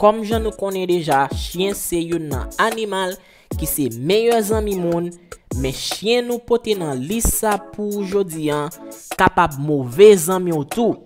Kòm jan nou konnen deja chyen se youn nan animal ki se meyè zanmi moun men chyen nou pote nan lis sa pou ou jodi an kapab move zanmi w tou.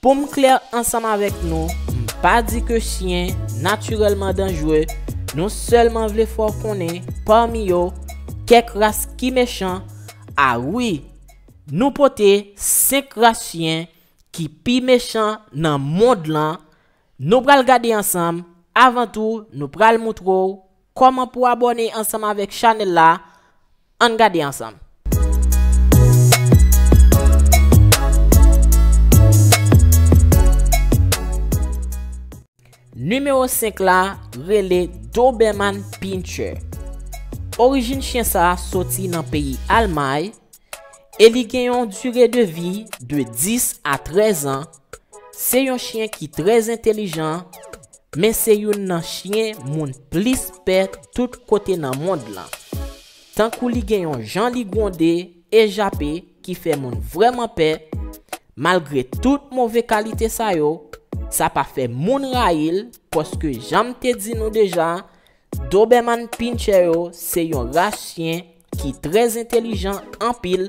Poum klè ansanm avèk nou m pa di ke chyen natirèlman danjre nou sèlman vle fè w konnen pami yo kèk ras ki mechan a wi nou pote 5 ras chyen ki pi mechan nan mond lan Nou pral gade ansanm, avan tou nou pral moutre w kòman pou abòne ansanm avèk chanèl la, ann gade ansanm. Nimewo 5 la rele Doberman Pinscher. Orijin chyen sa soti nan peyi Almay, e li gen yon dire de vi de 10 a 13 an, se yon chyen ki trè entelijan, men se youn nan chyen moun plis pè tout kote nan mond lan. Tankou li gen yon jan li gwonde e jape ki fè moun vrèman pè, malgre tout move kalite sa yo, sa pa fè moun rayi l paske jan m te di nou deja, Doberman Pinscher yo se yon ras chyen ki trè entelijan anpil,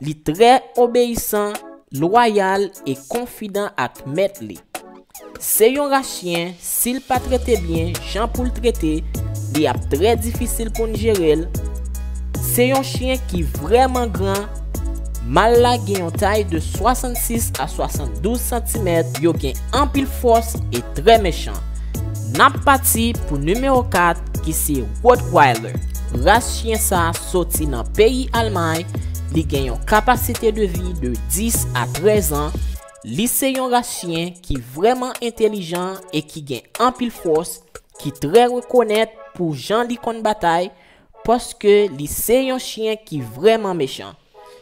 li trè obeyisan, lwayal e konfidan ak mèt li. Se yon ras chyen si l pa trete byen jan pou l trete li ap trè difisil pou n jere l. Se yon chyen ki vrèman gran, mal la gen yon tay de 66 a 72 santimèt, yo gen anpil fòs e trè mechan. Nap pati pou nimewo 4 ki se Rottweiler. Ras chyen sa soti nan peyi Almay, li gen yon kapasite de vi de 10 a 13 an, li se yon ras chyen ki vrèman entelijan e ki gen anpil fòs, ki trè rekonèt pou jan li konn batay, Paske li se yon chyen ki vrèman mechan.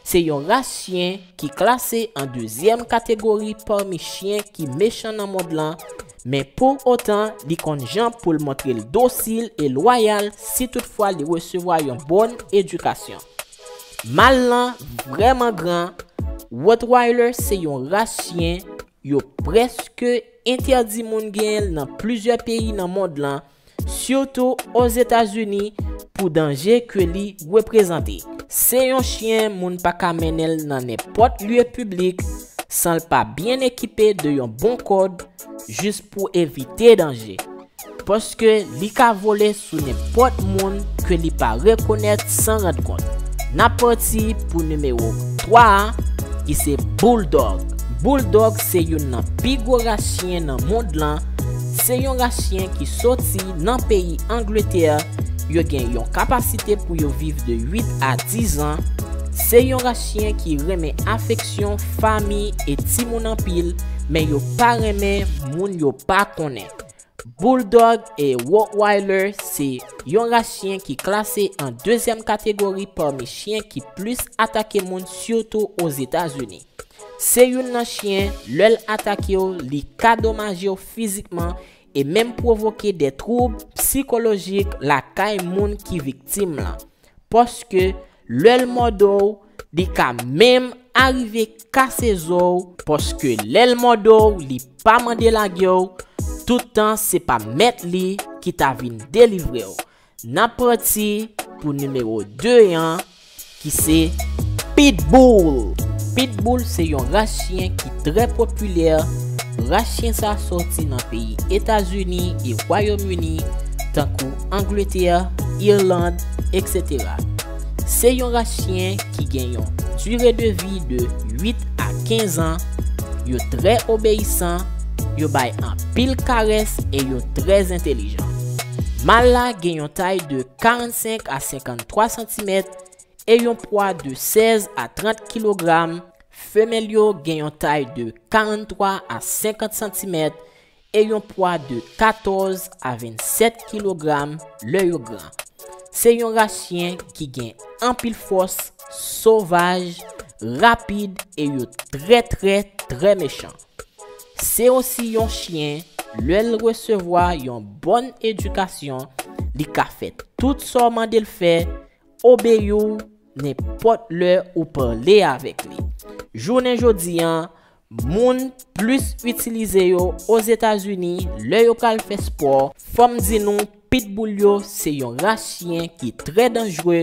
Se yon ras chyen ki klase an dezyèm kategori pami chyen ki mechan nan mond lan, men pou otan li konn jan pou l montre l dosil e lwayal si tout fwa li resevwa yon bon edikasyon. Mal lan vrèman gran, Rottweiler se yon ras chyen yo prèske entèdi moun genyen l nan plizyè peyi nan mond lan, sitou Ozetazini pou danje ke li reprezante. Se yon chyen moun pa ka mennen l nan nenpòt lye piblik san l pa byen ekipe de yon bon kòd jis pou evite danje, paske li ka vole sou nenpòt moun ke li pa rekonèt san rand kont. N ap pati pou nimewo 3 a ki se Bouldòg. Bouldòg se youn nan pi gwo ras chyen nan mond lan, Se yon ras chyen ki soti nan peyi Angletè, yo gen yon kapasite pou yo viv de 8 a 10 an, se yon ras chyen ki renmen afeksyon, fami e timoun anpil, men yo pa renmen moun yo pa konnen. Bulldog e Rottweiler se yon ras chyen ki klase an dezyèm kategori pami chyen ki plis atake moun sitou Ozetazini. Se youn nan chyen, lè l atake w, li ka domaje w fizikman e menm pwovoke de twoub psikolojik lakay moun ki viktim lan. Paske, lè l mòde w, li ka menm arive kase zo w, paske lè l mòde w li pa mande lage w, tout tan se pa mèt li ki ta vin delivre w. Nap pati pou nimewo 2 an ki se Pitbull. Pitbull se yon ras chyen ki trè popilè, ras chyen sa sòti nan peyi Etazini e Wayom Ini tankou Angletè, Irland, etc. Se yon ras chyen ki gen yon dire de vi de 8 a 15 an, yo trè obeyisan, yo bay anpil karès e yo trè entelijan. Mal la gen yon tay de 45 a 53 santimèt e yon pwa de 16 a 30 kilogram, femèl yo gen yon tay de 43 a 50 santimèt e yon pwa de 14 a 27 kilogram lè yo gran. Se yon ras chyen ki gen anpil fòs, sovaj, rapid e yo trè trè trè mechan. Se osi yon chyen, lè l resevwa yon bòn edikasyon, li ka fè tout sa w mande l fè, obeyi w nenpòt lè ou pale avèk li. Jounen jodi a, moun plis itilize yo Ozetazini lè yo pral fè spò. Fò m di nou, Pitbull yo se yon ras chyen ki trè danjre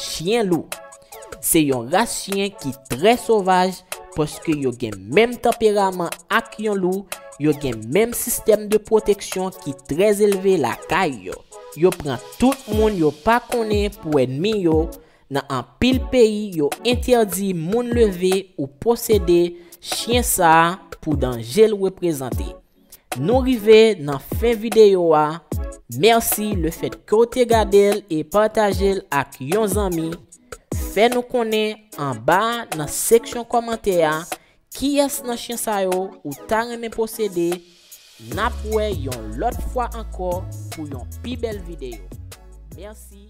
Chyen lou Se yon ras chyen ki trè sovaj paske yo gen menm tanperaman ak yon lou, yo gen menm sistèm de pwoteksyon ki trè elve lakay yo. Yo pran tout moun yo pa konnen pou ènmi yo, nan anpil peyi yo entèdi moun leve ou posede chyen sa pou danje l reprezante. Nou rive nan fen videyo a, mèsi le fèt ke w te gade l e pataje l ak yon zanmi, fè nou konnen anba nan seksyon kòmantè a kiyès nan chyen sa yo ou ta renmen posede, nap wè yon lòt fwa ankò pou yon pi bèl videyo. Mèsi.